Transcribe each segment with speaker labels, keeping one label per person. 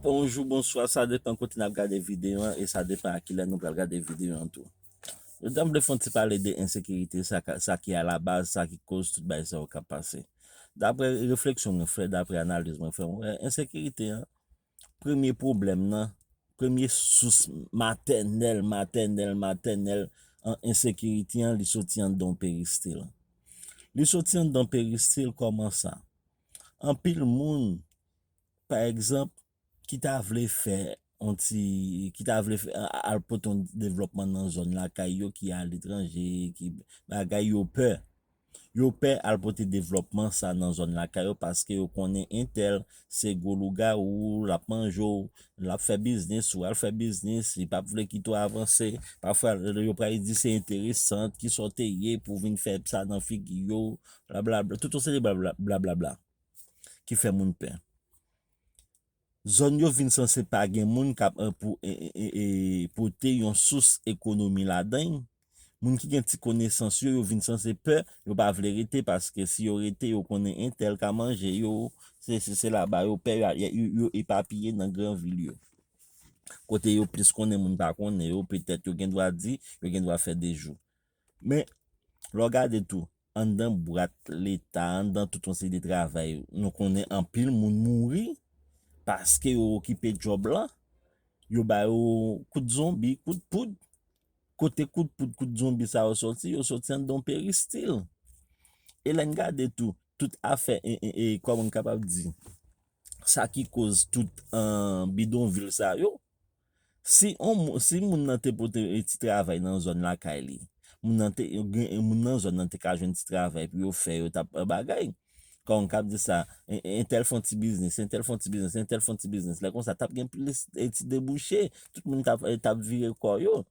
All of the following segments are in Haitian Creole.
Speaker 1: Bonjou, bonswa, sa depan kote nap gade videyo an e sa depan a kilè nou pral gade videyo an tou. Jodi a m vle fè yon ti pale de ensekirite sa ka sa ki alabaz sa ki koz tout bagay sa yo kap pase. Daprè refleksyon mwen fè, daprè analiz mwen fè, mwen wè ensekirite an premye pwoblèm nan, premye sous matènèl, matènèl, matènèl an ensekirite an li soti anndan yon peristil. Li soti anndan yon peristil kòman sa? Anpil moun pa egzanp, ki ta vle fè yon ti, ki ta vle fè, al pote yon devlòpman nan zòn lakay yo ki aletranje, ki bagay, yo pè. Yo pè al pote devlòpman sa nan zòn lakay yo paske yo konnen entèl se gwo lougawou, l ap manje w, l ap fè biznis ou, al fè biznis, li pap vle kite w avanse. Pafwa yo pral di se enteresan, ki sa w te ye pou w vin fè sa nan figi yo, blablabla, tout yon seri blablabla. ki fè moun pè. Zòn yo vin sanse pa gen moun kap pote yon sous ekonomi ladan y, moun ki gen ti konesans yo, yo vin sanse pè, yo pa vle rete paske si yo rete yo konnen entèl ka manje yo, sesi sela ba yo pè yo epapiye nan gran vil yo. Kote yo plis konnen moun pa konnen yo, petèt yo gen dwa di, yo gen dwa fè dejou. Men, lè w gade tou, anndan bwat Leta, anndan tout yon seri de travay, nou konnen anpil moun mouri paske yo okipe djòb lan, yo ba yo kout zonbi, kout poud. Kote kout poud, kout zonbi sa yo soti? Yo soti anndan yon peristil. E lè n gade tou, tout afè, kòman m kapab di, sa ki koz tout bidonvil sa yo, Si on moun, si moun nan te pote e ti travay nan zòn lakay li, moun nan te, gen e moun nan zòn nan te ka jwenn ti travay pou yo fè, yo t ap bagay. Kò m k ap di sa, en, entèl fon ti biznis, entèl fon ti biznis, entèl fon ti biznis. Lè konsa, t ap gen plis e ti debouche, tout moun t ap, t ap vire kò yo.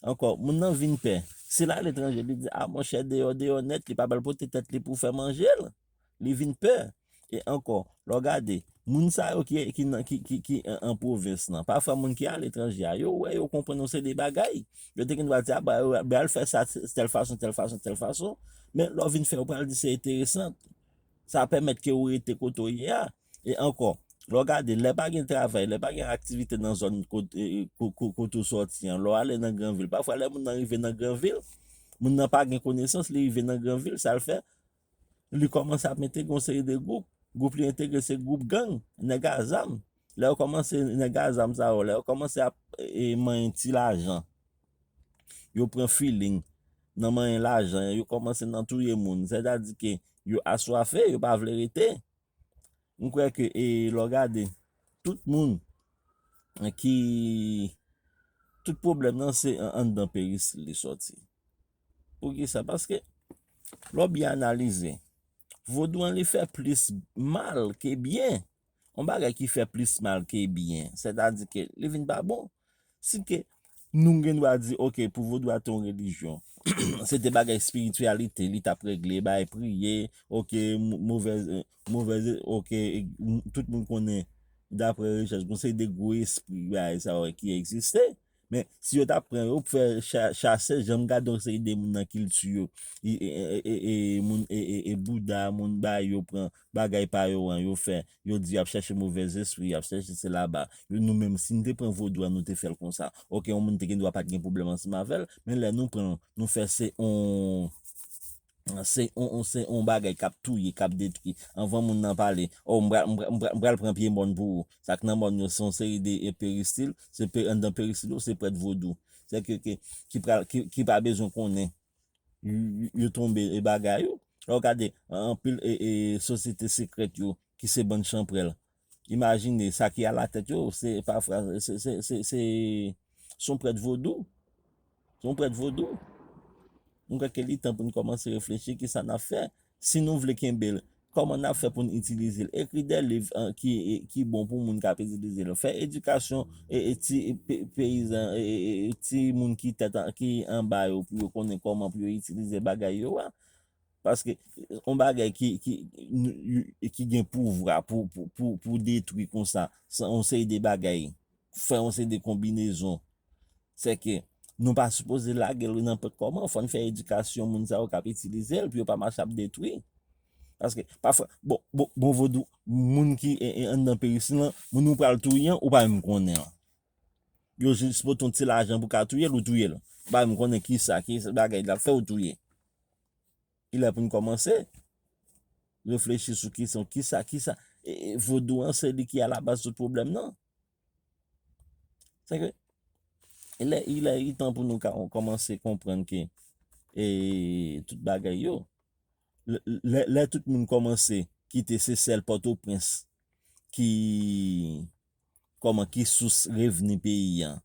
Speaker 1: Ankò, moun nan vin pè. Si l ale etranje, li di, a monchè deyò, deyò nèt, li pa pral pote tèt li pou fè manje l. li vin pè. E ankò, lè w gade, moun sa yo ki an pwovens lan, pafwa moun ki aletranje a, yo wè, yo konprann yon seri de bagay. Yo te gendwa di, a ba yo, ba yo al fè sa tèl fason, tèl fason, tèl fason. Men, lè w vin fè, yo pral di se enteresan. Sa pèmèt ke ou rete kote ou ye a. E ankò, lè w gade, lè pa gen travay, lè pa gen aktivite nan zòn kote ou sòti an, lè w ale nan gran vil, pafwa lè moun nan rive nan gran vil, moun nan pa gen konesans, li rive nan gran vil, sa l fè? li kòmanse ap entegre yon seri de gwoup, gwoup li entegre se gwoup gang, nèg a zam, lè yo kòmanse nèg a zam sa yo, lè yo kòmanse ap manyen ti lajan, yo pran filing nan manyen lajan, yo kòmanse nan touye moun, sètadi ke yo aswafe, yo pa vle rete. M kwè ke e lè w gade tout moun ki tout pwoblèm nan se anndan peristil li sòti. Poukisa? Paske lè w byen analize, vodou an li fè plis mal ke byen. On bagay ki fè plis mal ke byen, sètadi ke li vin pa bon. Si ke nou gen dwa di ok pou vodou a te yon relijyon, se te bagay espirityalite li tap regle, bay priye, ok movèz, movèz, ok tout moun konnen dapre rechèch bon se de gwo espri bay sa yo ki egziste. Men si yo tap pran yo pou fè chase, jan m gade yon seri de moun nan kilti yo, e e e e moun e e e bouda moun bay yo pran bagay pa yo an yo fè yo di yo ap chèche movè zespri yo ap chèche se laba yo nou menm si n te pran vodou a nou te fè l konsa oke yon moun te gen dwa pat gen pwoblèm ansanm avè l men lè nou pran l nou fè se yon se yon se yon bagay k ap touye k ap detwi anvan moun nan pale o m pra m pra m pral pran pye mòn pou ou sa k nan mòn yo se yon seri de peristil se anndan peristil yo se prèt vodou sè ke ke ki pral ki pa bezwen konnen yo tonbe e bagay yo. Lè w gade anpil sosyete sekrèt yo ki se bann chanprèl, imajine sa ki alatèt yo se pafwa se yon prèt vodou. Se yon prèt vodou. Mwen kwè ke li tan pou n kòmanse reflechi ki sa n ap fè. Si nou vle kenbe l, kòman n ap fè pou n itilize l? Ekri de liv ki bon pou moun k ap itilize l. Fè edikasyon ti peyizan, ti moun ki tèt ki anba yo pou yo konnen kòman pou yo itilize bagay yo a. Paske yon bagay ki gen pouvwa pou detwi konsa, se yon seri de bagay. fè yon seri de konbinezon. Se ke nou pa sipoze lage l wi nan pòt kòman. Fò n fè edikasyon moun sa yo k ap itilize l pou yo pa mache ap detwi. Paske pafwa, bon, bon vodou, moun ki anndan peristil lan, moun ou pral touye an, ou pa menm konnen l. Yo jis pote yon ti lajan pou ka touye l, ou touye l. Ou pa menm konnen ki sa, ki bagay l ap fè ou touye. Li lè pou n kòmanse reflechi sou kesyon ki sa, ki sa. Vodou an se li ki alabaz tout pwoblèm nan. Se ke, lè ilè itan pou nou kòmanse konprann ke e tout bagay yo, lè tout moun kòmanse kite se sèl Pòtoprens ki kòman ki sous revni peyi an.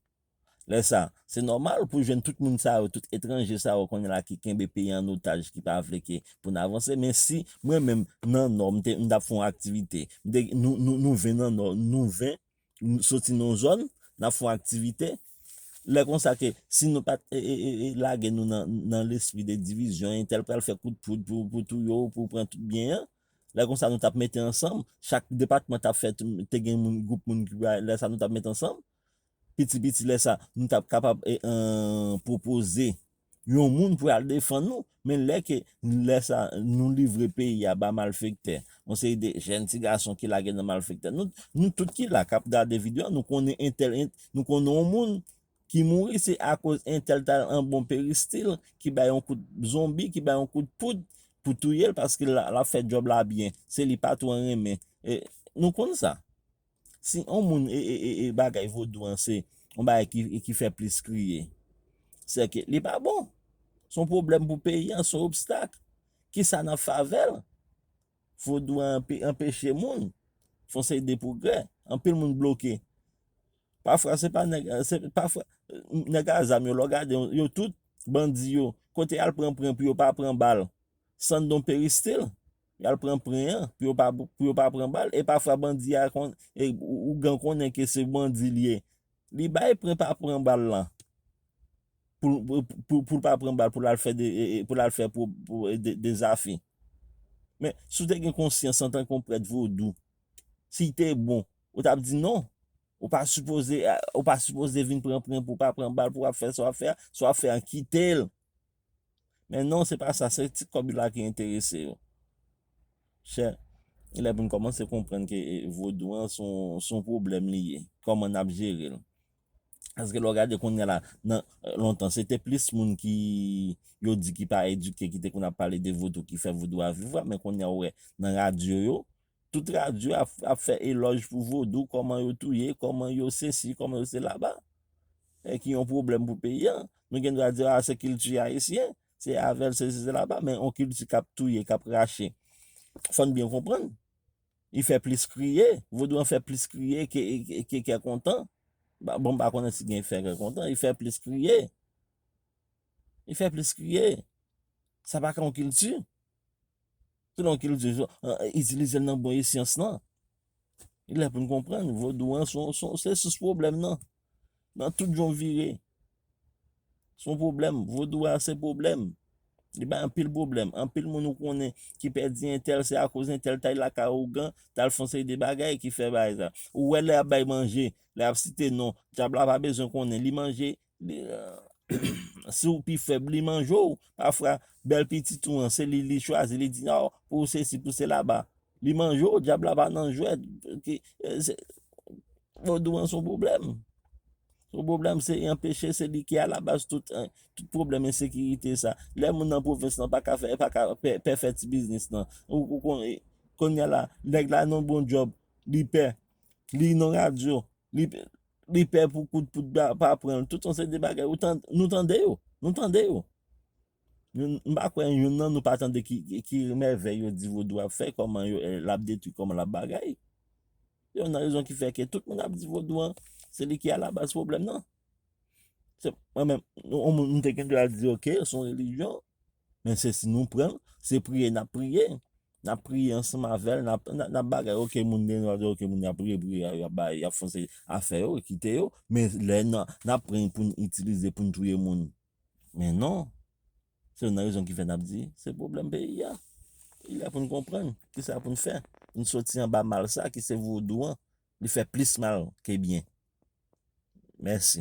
Speaker 1: Lè sa, se nòmal pou jwenn tout moun sa yo, tout etranje sa yo kounye la ki kenbe peyi an otaj, ki pa vle ke pou n avanse. Men si mwen menm nan Nò, m te, m ta fon aktivite. M te, nou, nou, nou 20 nan Nò, nou 20 soti nan yon zòn, n ap fon aktivite. Lè konsa ke si nou pa t e, e, e, e lage nou nan, nan lespri de divizyon, entèl pral fè kout poud pou, pou touye w, pou pran tout byen an. Lè konsa nou t ap mete ansanm, chak depatman t ap fè, te gen moun, gwoup moun ki pou al, lè sa nou t ap met ansanm. Piti piti lè sa nou tap kapab pwopoze yon moun pou al defann nou men lè ke lè sa nou livre peyi a ba malfektè yon seri de jèn ti gason ki lage nan malfektè nou tout ki la kap gade video an nou konnen entèl nou konnen yon moun ki mouri se akoz entèl ta al an bon peristil ki bay yon kout zonbi ki bay yon kout poud pou touyel paske lap fè djòb la byen se li patwon renmen nou konn sa. Si on moun e bagay vodou an se on bagay ki fè plis kriye, se ke li pa bon. Se on pwoblèm pou peyi an, se on obstak. Ki sa nan favè l? Vodou an anpeche moun fè on seri de pwogrè. Anpil moun bloke. Pafwa se pa nèg, pafwa nèg a zam yo lè w gade yo, yo tout bandi yo. Kote y al pran pran pou yo pa pran bal? San don peristil. Yal pran pren an pou yo pa pou yo pa pran bal e pafwa bandi a konn e ougan konnen ke se bandi li ye li bay pren pa pran bal lan poul pou poul pa pran bal poul al fè de e poul al fè pou pou e de dezafe men si w te gen konsyans antanke yon prèt vodou si te bon ou tap di non ou pa sipoze ou pa sipoze vin pran pren pou pa pran bal pou wap fè sa wap fè a sa wap fè a kitel Men non se pa sa, se ti kòb la ki enterese yo. Chè, gen lè pou n kòmanse konprann ke vodou an se yon pwoblèm li ye, kòman n ap jere l. Paske lè w gade kounya la, nan lontan se te plis moun ki yo di ki pa edike ki te konn ap pale de vodou ki fè vodou a viv la, men kounya ou wè nan radyo yo, Tout radyo ap fè elòj pou vodou, kòman yo touye, kòman yo sesi, kòman yo selaba. E ki yon pwoblèm pou peyi an. Nou gen dwa di a se kilti ayisyen, se avèl sesi selaba, men yon kilti k ap touye, k ap rache. Fò n byen konprann. Li fè plis kriye. Vodou an fè plis kriye ke kè kontan. Bon m pa konnen si gen fè kè kontan. Li fè plis kriye. Li fè plis kriye. Sa pa ka yon kilti. Tout non kilti yo, itilize l nan bon esyans lan. Li lè pou n konprann, vodou an se yon sous pwoblèm nan. Nan tout jan w vire, se yon pwoblèm. Vodou a se pwoblèm. Li bay anpil pwoblèm. Anpil moun ou konnen ki pèdi entèl se akoz entèl t al lakay ougan, t al fè yon seri de bagay ki fè bagay sa. Ou wè lè y ap bay manje, lè y ap site non, dyab la pa bezwen konnen, li manje. Si w pi fèb li manje w. Pafwa bèl pitit ou an se li li chwazi li di non pou w sesi pou w sela ba li manje w. Dyab la pa nan jwèt. Vodou an se yon pwoblèm. Se yon pwoblèm se yon peche se li ki alabaz tout pwoblèm ensekirite sa. Lè moun nan pwovens lan pa ka fè pa ka pè fè ti biznis lan. Ou konnen kounya la nèg la nan bon djòb li pè li nan radyo Li pè pou kout poud la pa pran l. Tout yon seri de bagay. Nou tande yo. Nou tande yo. M pa kwè youn nan nou pa tande ki mèvèy yo di vodou ap fè, kòman l ap detwi, kòman l ap bagay. Se youn nan rezon ki fè ke tout moun ap di vodou an, se li ki alabaz pwoblèm nan. Mwen menm, yon moun m te gen dwa di ok, se yon relijyon, men se si nou pran l, se priye n ap priye. Nap priye ansanm avèl nap bagay ok moun gen dwa di ok moun yap priye priye a yap bay yap fon seri afè yo kite yo men lè nap pran poun itilize poun touye moun men non se youn nan rezon kifè nap di se pwoblèm peyi a li lè poun konprann kisa poun fè poun soti anba mal sa ki se vodou an li fè plis mal ke byen mèsi.